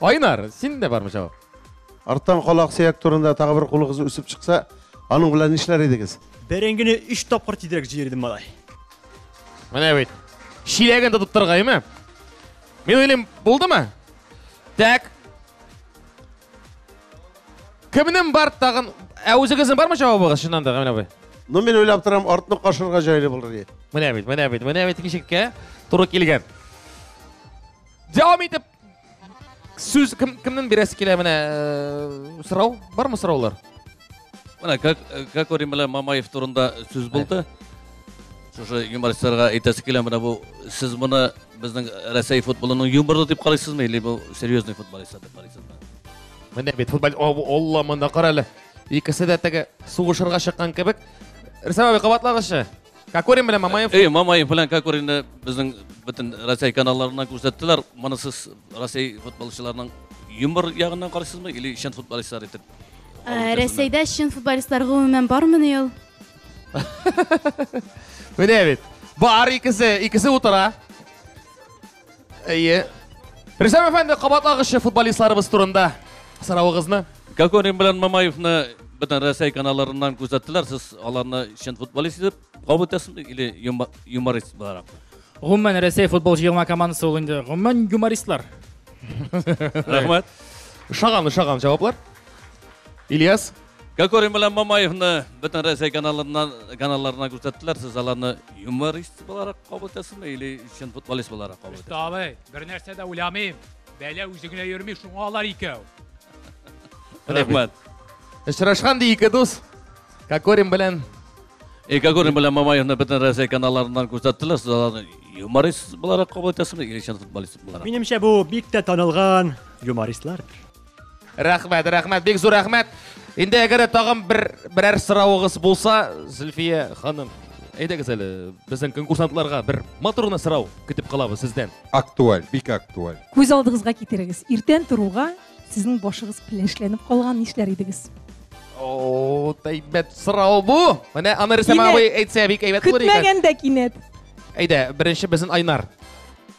Айнар, син дә бармы җавап? Арттан кала аксөяк турында тагы бер кулыгыз үсеп чыкса, аның белән нишләр идегез? Бәрәңгене 3 тапкыр тизрәк җыердым малай. Менә бит. Чиләген тотып торгаймы? Мин уйлыйм, булдымы? Так. Кемнең бар тагын? Ә үзегезнең бармы җавабыгыз чыннан да, Гамил абый? Ну, мин уйлап торам, артны кашырга җайлы булыр ди. Менә бит, менә бит, менә бит ишеккә туры килгән. дәвам итеп сүз кем кемнен бирәсе килә менә э, сорау бармы сораулар менә как как орим белән мамаев турында сүз булды шушы юмористларга әйтәсе килә менә бу сез моны безнең рәсәй футболының юморлы дип карыйсызмы или бу серьезный футболистлар дип карыйсызмы менә бит футбол алла монда кара әле икесе дә теге сугышырга чыккан кебек рөстәм абый кабатлагызчы Кокорин белән Мамаев. Эй, Мамаев белән Кокоринны безнең бөтен Россия каналларыннан күрсәттеләр. Моны сез Россия футболчыларының юмор ягыннан карыйсызмы или чын футболистлар итеп? Э, Рәсәйдә чын футболистлар гомумән бармыни ул? Менә бит. Бар икесе, икесе утыра. Әйе. Рөстәм әфәнде, кабатлагычы футболистларыбыз турында сорауыгызны. Кокорин белән Мамаевны бөтен Россия каналларыннан күзәттеләр. Сез аларны чын футболист итеп кабул итәсезме или юморист буларак? Гомумән Россия футбол җыелма командасы ул инде. Гомумән юмористлар. Рәхмәт. Шаган, шаган җаваплар. Ильяс Кокорин белән Мамаевны бөтен Рәсәй каналларыннан каналларына күрсәттеләр. Сез аларны юморист буларак кабул итәсезме или чын футболист буларак кабул итәсез? Абый, бер нәрсә дә уйламыйм. Бәлә үзе генә йөрми, шуңа алар икәү. Рәхмәт. Очрашкан ди ике дус. Кокорин белән И Кокорин белән Мамаевны бөтен Рәсәй каналларыннан күрсәттеләр. Сез аларны юморист буларак кабул итәсезме или чын футболист буларак? Минемчә бу бик тә танылган юмористлардыр. Рәхмәт, рәхмәт, бик зур рәхмәт. Инде әгәр тагын бер берәр сорауыгыз булса, Зөлфия ханым, әйдәгез әле безнең конкурсантларга бер матур гына сорау көтеп калабыз сездән. Актуаль, бик актуаль. Күз алдыгызга китерегез. Иртән торуга сезнең башыгыз пеләшләнеп калган нишләр идегез? О, әйбәт сорау бу. Менә аны Рөстәм Кинәт. абый әйтсә бик әйбәт булыр икән. Көтмәгәндә кинәт. Әйдә, беренче безнең Айнар.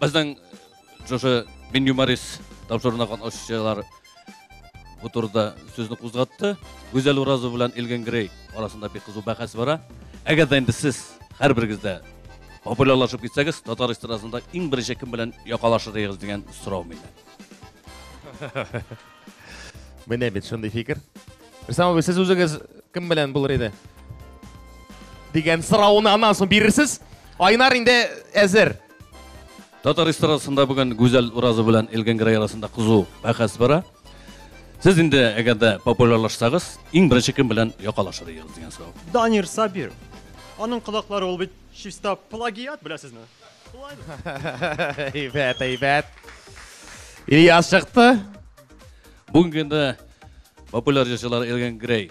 Безнең шушы Мин юморист тапшыруына катнашучылар бу турыда сүзне кузгатты. Гүзәл Уразова белән Илгин Грей арасында бик кызу бәхәс бара. Әгәр дә инде сез һәрберегез дә популярлашып китсәгез, татар эстрадасында иң беренче кем белән якалашыр идегез дигән сорау мине. Менә бит шундый фикер. Рөстәм абый, сез үзегез кем белән булыр иде? Дигән сорауны аннан соң бирерсез. Айнар инде әзер. Татар эстрадасында бүген Гүзәл Уразова белән Элгән Грай арасында кызу бәхәс бара. Сез инде әгәр дә популярлашсагыз, иң беренче кем белән якалашыр идегез дигән сорау. Данир Сабир. Аның колаклары ул бит чиста плагиат, беләсезме? Әйбәт, әйбәт. Ильяс чыкты. Бүгенге инде популяр җырчылар Элгән Грей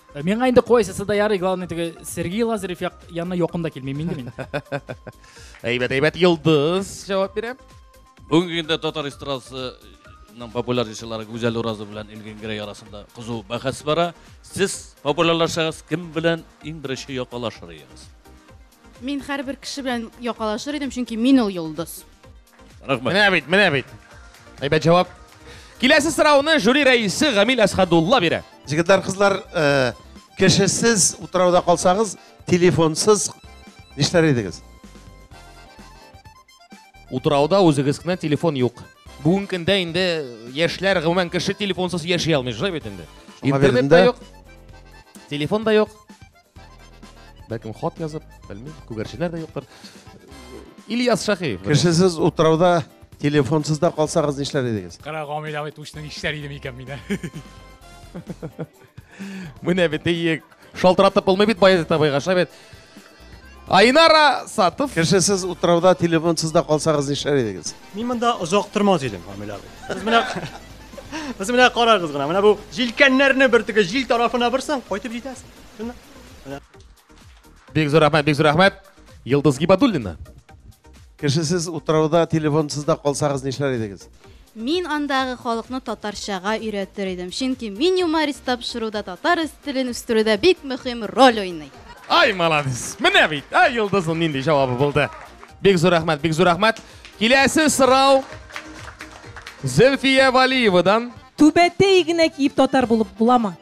Э, миңа инде кайсысы да ярый главный теге сергей лазарев як, янына якын да килмим инде мин әйбәт әйбәт йолдыз җавап бирә бүгенге көндә татар эстрадасының популяр җырчылары гүзәл уразов белән илгин герей арасында кызу бәхәс бара сез популярлашсагыз кем белән иң беренче якалашыр идегез Мин һәрбер кеше белән якалашыр идем, чөнки мин ул йолдыз. Рәхмәт. Менә бит, менә бит. Әйбәт җавап. Киләсе сорауны жюри рәисе Гамил Әсхадулла бирә. Җегетләр, кызлар, э, кешесез утрауда калсагыз, телефонсыз нишләр идегез? Утрауда үзегез кенә телефон юк. Бүгенге көндә инде яшьләр гомумән кеше телефонсыз яши алмый, шулай бит инде. Шуңа Интернет бирдем та дә. юк. Телефон да юк. бәлкем хат язып белмим күгәрченнәр дә юктыр ильяс шәхиев кешесез утрауда телефонсыз да калсагыз нишләр идегез кара гамилә бит учны нишләр идем икән мин менә бит иек шалтыратып булмый бит баязит абыйга шулай бит Айнара Сатов. Кешесез утрауда телефонсыз да калсагыз нишләр идегез? Мин монда озак тормас идем, Камил абый. Сез менә Сез менә карагыз гына, менә бу җилкәннәрне бер теге җил тарафына борсаң, кайтып җитәсең. Бик зур рәхмәт, бик зур рәхмәт. Йылдыз Гибадуллина. Кешесез утрауда, телефонсыз да калсагыз нишләр идегез? Мин андагы халыкны татарчага өйрәтер идем, чөнки мин юморист тапшыруда татар телен үстерүдә бик мөһим роль уйный. Ай, молодец. Менә бит, ә Йылдызның нинди җавабы булды. Бик зур рәхмәт, бик зур рәхмәт. Киләсе сорау Зөлфия Валиевадан. Түбәтәй генә киеп татар булып буламы?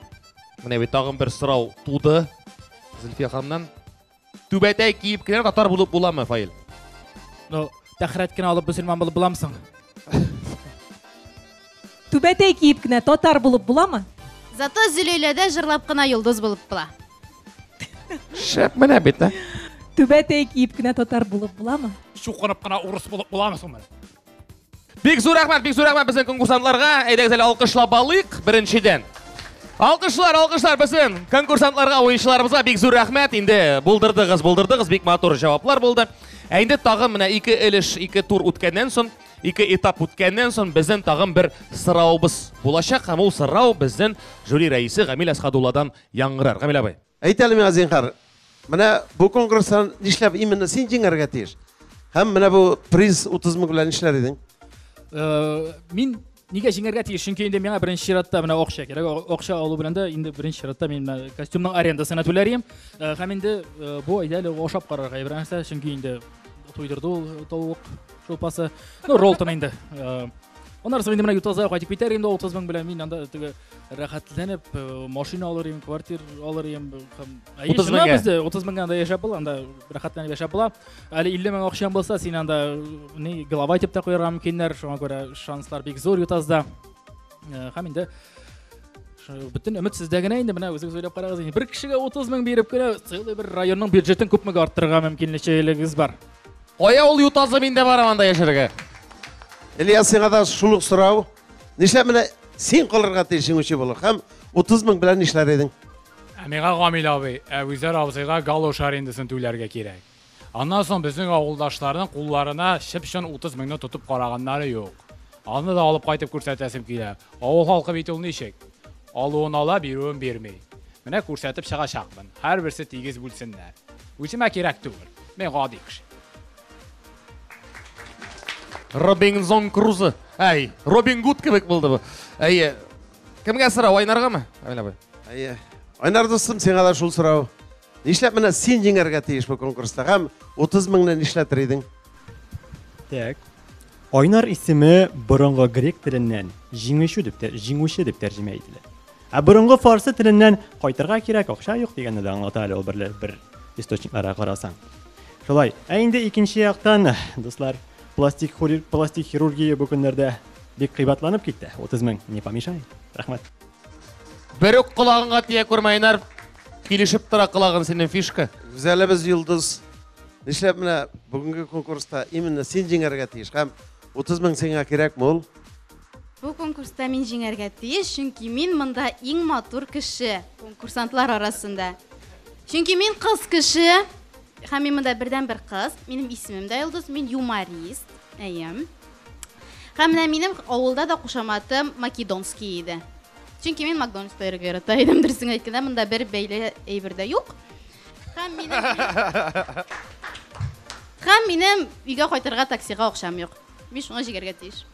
Менә бит тагын бер сорау туды Зөлфия ханымнан. Түбәтәй киеп кенә татар булып буламы, Фаил? Ну, тәхрәт кенә алып мөселман булып буламсың. Түбәтәй киеп кенә татар булып буламы? Зато Зөләйләдә җырлап кына йолдыз булып була. Шәп менә бит, ә? Түбәтәй киеп кенә татар булып буламы? Чукынып кына урыс булып буламы соң менә? Бик зур рәхмәт, бик зур рәхмәт безнең конкурсантларга. Әйдәгез әле алкышлап алыйк беренчедән. Алкышлар, алкышлар безнең конкурсантларга, уенчыларыбызга бик зур рәхмәт. Инде булдырдыгыз, булдырдыгыз, бик матур җаваплар булды. Ә инде тагын менә ике элеш, ике тур үткәннән соң, ике этап үткәннән соң безнең тагын бер сорауыбыз булачак. Һәм ул сорау безнең жюри рәисе Гамил Әсхадулладан яңгырар. Гамил абый. Әйт әле миңа, зинһар, менә бу конкурста нишләп именно син җиңәргә тиеш? Һәм менә бу приз 30 мең белән нишләр идең? Э, мин нигә җиңәргә тиеш? Чөнки инде миңа беренче чиратта менә акча кирәк. Акча алу белән дә инде беренче чиратта мин менә костюмның арендасын түләрем. Э, һәм инде э, бу әйдә әле ашап карарга әйбер нәрсә, чөнки инде туйдырды ул тавык шулпасы. Ну, ролтон инде. Аннары инде менә ютаза кайтып китәр инде 30 мең белән мин анда теге рәхәтләнеп э, машина алыр идем квартира алыр идем һәм утыз меңгә бездә утыз меңгә анда яшәп була анда рәхәтләнеп яшәп була әле илле мең акчаң булса син анда не голова итеп тә куярга мөмкиннәр шуңа күрә шанслар бик зур ютазда э, һәм инде бөтен өмет сездә генә инде менә үзегез уйлап карагыз инде бер кешегә утыз мең биреп кенә целый бер районның бюджетын күпмегә арттырырга мөмкинлегегез бар кая ул ютазы мин дә барам анда яшәргә ильяс сиңа да шул ук сорау Нишләп менә син калырга тиеш җиңүче булыр һәм 30 мең белән нишләр идең? Ә миңа Гамил абый, ә Үзәр абзыйга галош арендасын түләргә кирәк. Аннан соң безнең авылдашларның кулларына чып-чын 30 меңне тотып караганнары юк. Аны да алып кайтып күрсәтәсем килә. Авыл халкы бит ул ничек? Алуын ала, бирүен бирми. Менә күрсәтеп чыгачакмын. Һәрберсе тигез бүлсеннәр. Үземә кирәк түгел. Мин гади кеше. Робинзон Крузы. Әй, Робин Гуд кебек булды бу. Әйе. Кемгә сорау, Айнаргамы? Әмилә абый. Әйе. Айнар дустым, сиңа да шул сорау. Нишләп менә син җиңәргә тиеш бу конкурста һәм 30 меңне нишләтер идең? Так. Айнар исеме борынгы грек теленнән җиңүче дип тә җиңүче дип тәрҗемә ителә. Ә борынгы фарсы теленнән кайтырга кирәк, акча юк дигәнне дә аңлата әле ул бер, бер источникларга карасаң. Шулай. Ә инде икенче яктан, дуслар, пластик, пластик хирургия бу көннәрдә бик кыйбатланып китте. 30 мең не помешает. Рәхмәт. Бер үк колагыңа тия күрмә, Инар. Килешеп тора колагын синең фишка. Гүзәлебез Йолдыз. Нишләп менә бүгенге конкурста именно син җиңәргә тиеш һәм 30 мең сиңа кирәкме ул? Бу конкурста мин җиңәргә тиеш, чөнки мин монда иң матур кеше конкурсантлар арасында. Чөнки мин кыз кеше, һәм мин монда бердән бер кыз. Минем исемем дә Йолдыз, мин юморист. Әйе. Һәм менә минем авылда да кушаматым Македонский иде. Чөнки мин Макдональдс йөрергә ярата идем, дөресен әйткәндә, монда бер бәйле әйбер дә юк. Һәм минем Һәм минем өйгә кайтырга таксига акчам юк. Мин шуңа җигәргә тиеш.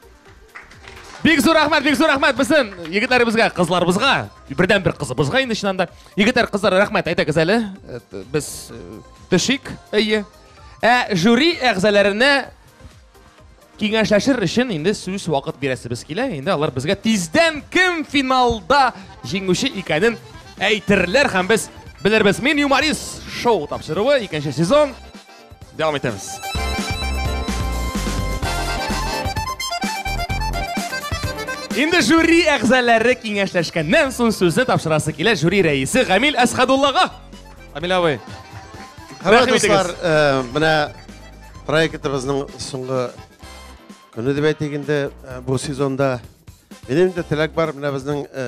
Бик зур рәхмәт, бик зур рәхмәт безнең егетләребезгә, кызларыбызга, бердән бер кызыбызга инде чыннан да. Егетләр, кызлар, рәхмәт әйтәгез әле. Э, без э, төшик. Әйе. Ә жюри әгъзаларына киңәшләшер өчен инде сүз вакыт бирәсебез килә. Инде алар безгә тиздән кем финалда җиңүче икәнен әйтерләр һәм без белербез. Мин юморист шоу тапшыруы икенче сезон Devam etemiz. Инде жюри әгъзалары киңәшләшкәннән соң сүзне тапшырасы килә жюри рәисе Гамил Әсхадуллага. Амил абый. Хәбәр дуслар, э, менә проектыбызның соңгы көне дип әйтик инде э, бу сезонда. Минем дә теләк бар, менә безнең э,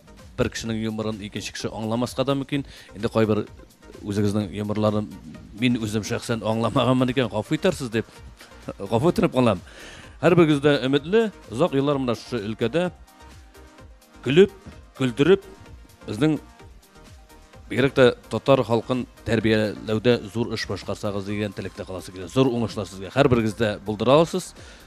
Бер кешенең юморын икенче кеше аңламаска да мөмкин. Инде кайбер үзегезнең юморларын мин үзем шәхсән аңламаганмын икән, гафу итәрсез дип гафу үтенеп калам. Һәрберегез дә өметле, озак еллар менә шушы өлкәдә көлеп, көлдереп, безнең бигрәк тә татар халкын тәрбияләүдә зур эш башкарсагыз дигән теләктә каласы килә. Зур уңышлар сезгә. Һәрберегез дә булдыра аласыз.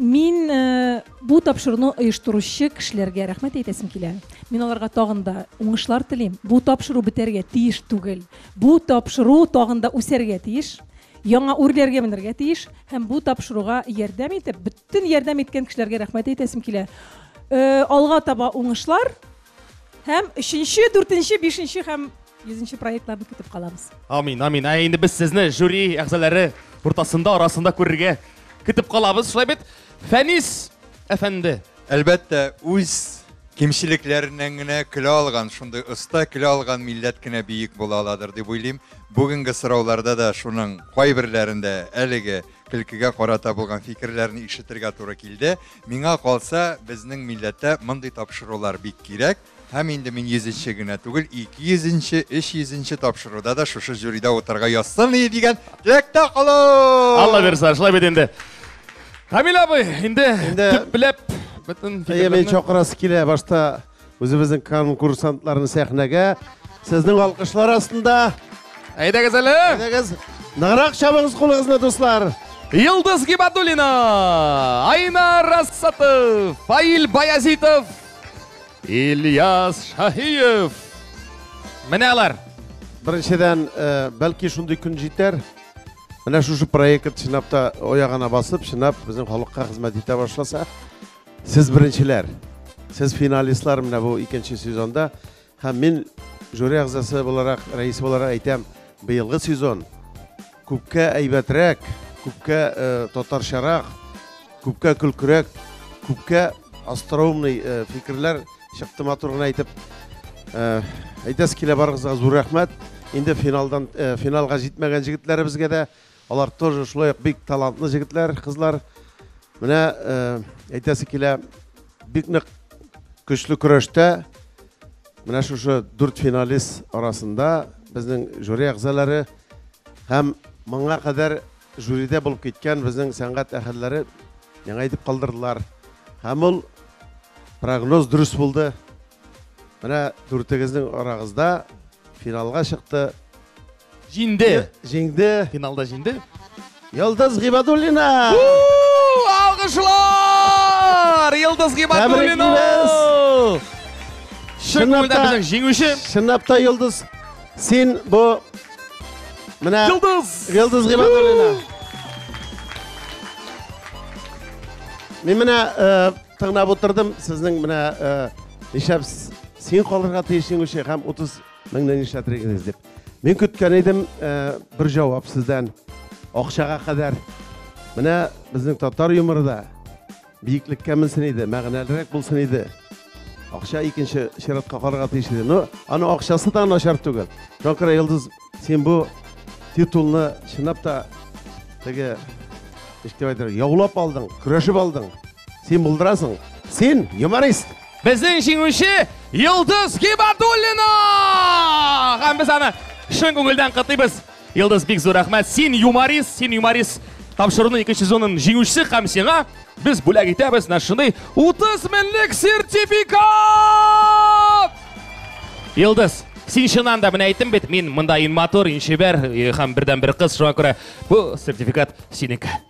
Мин бу тапшыруны оештыручы кешеләргә рәхмәт әйтәсем килә. Мин аларга тагын да уңышлар телим. Бу тапшыру бетәргә тиеш түгел. Бу тапшыру тагын да үсәргә тиеш. Яңа үрләргә менергә тиеш һәм бу тапшыруга ярдәм итеп, бөтен ярдәм иткән кешеләргә рәхмәт әйтәсем килә. Алга таба уңышлар, Һәм өченче, дүртенче, бишенче һәм йөзенче проектларны көтеп калабыз. Амин, амин. Ә инде без сезне жюри әгъзалары уртасында, арасында күрергә көтеп калабыз. Шулай бит, Фәнис әфәнде. Әлбәттә, үз кимчелекләреннән генә көлә алган, шундый оста көлә алган милләт кенә биек була аладыр дип уйлыйм. Бүгенге сорауларда да шуның кайберләрендә әлеге көлкегә карата булган фикерләрне ишетергә туры килде. Миңа калса, безнең милләттә мондый тапшырулар бик кирәк, һәм инде мин йөзенче генә түгел, ике йөзенче, өч йөзенче тапшыруда да шушы жюрида утырырга язсын иде дигән теләктә калам! Алла бирса, шулай бит инде. Камил абый, инде төпләп бөтен Әйе, мин чакырасы килә башта. Үзебезнең конкурсантларны сәхнәгә сезнең алкышлар астында. Әйдәгез әле. Әйдәгез. Ныграк чабыгыз кулыгызны, дуслар. Йылдыз Гибадулина, Айна Рассатов, Фаил Баязитов, Ильяс Шаһиев. Менә алар. Беренчедән, э, бәлки шундый күн җитәр. Менә шушы проект чинап та оягына басып, чинап безнең халыкка хезмәт итә башласа, Сез беренчеләр, сез финалистлар менә бу икенче сезонда. Һәм мин жюри әгъзасы буларак, рәисе буларак әйтәм, быелгы сезон күпкә әйбәтрәк, күпкә э, татарчарак, күпкә көлкерәк, күпкә остроумный э, фикерләр чыкты матур гына әйтеп. Э, әйтәсе килә барыгызга зур рәхмәт. Инде финалдан э, финалга җитмәгән җегетләребезгә дә Алар тоже шулай ук бик талантлы җегетләр, кызлар. Менә әйтәсе килә, бик нык көчле көрәштә менә шушы дүрт финалист арасында безнең жюри әгъзалары һәм моңа кадәр жюриде булып киткән безнең сәнгать әһелләре яңа итеп калдырдылар. Һәм ул прогноз дөрес булды. Менә дүртегезнең арагызда финалга чыкты Җиңде. Җиңде. Финалда җиңде. Йолдыз Гибадуллина! Алгышлар! Йолдыз Гибадуллина! Чынлап та безнең җиңүче. Чынлап та Йолдыз, син бу менә Йолдыз! Йолдыз Гибадуллина. Мин менә э, тыңлап утырдым, сезнең менә э, нишләп син калырга тиеш җиңүче һәм 30 Мин не нишләтер идегез дип. Мин көткән идем э, бер җавап сездән. Акчага кадәр. Менә безнең татар юморы да биеклеккә менсен иде, мәгънәлерәк булсын иде. Акча икенче чиратка карарга тиеш иде. Но аның акчасы да начар түгел. Тонкра Йолдыз, син бу титулны чынлап та теге ничек дип әйтергә, яулап алдың, көрәшеп алдың. Син булдырасың. Син юморист. Безнең җиңүче Йолдыз Гибадуллина! Һәм без аны шын күңелдән кытыйбыз. Йолдыз бик зур рәхмәт. Син юморист, син юморист. Тапшыруның икенче сезонын җиңүчесе һәм сиңа без бүләк итәбез менә шундый 30 меңлек сертификат! Йолдыз, син чыннан да менә әйттем бит, мин монда ин матур, ин чибәр һәм бердәнбер кыз, шуңа күрә бу сертификат синеке.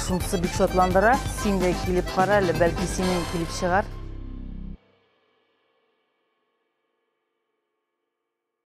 Шунысы бик шатландыра. Син дә килеп кара әле, бәлки синең килеп чыгар.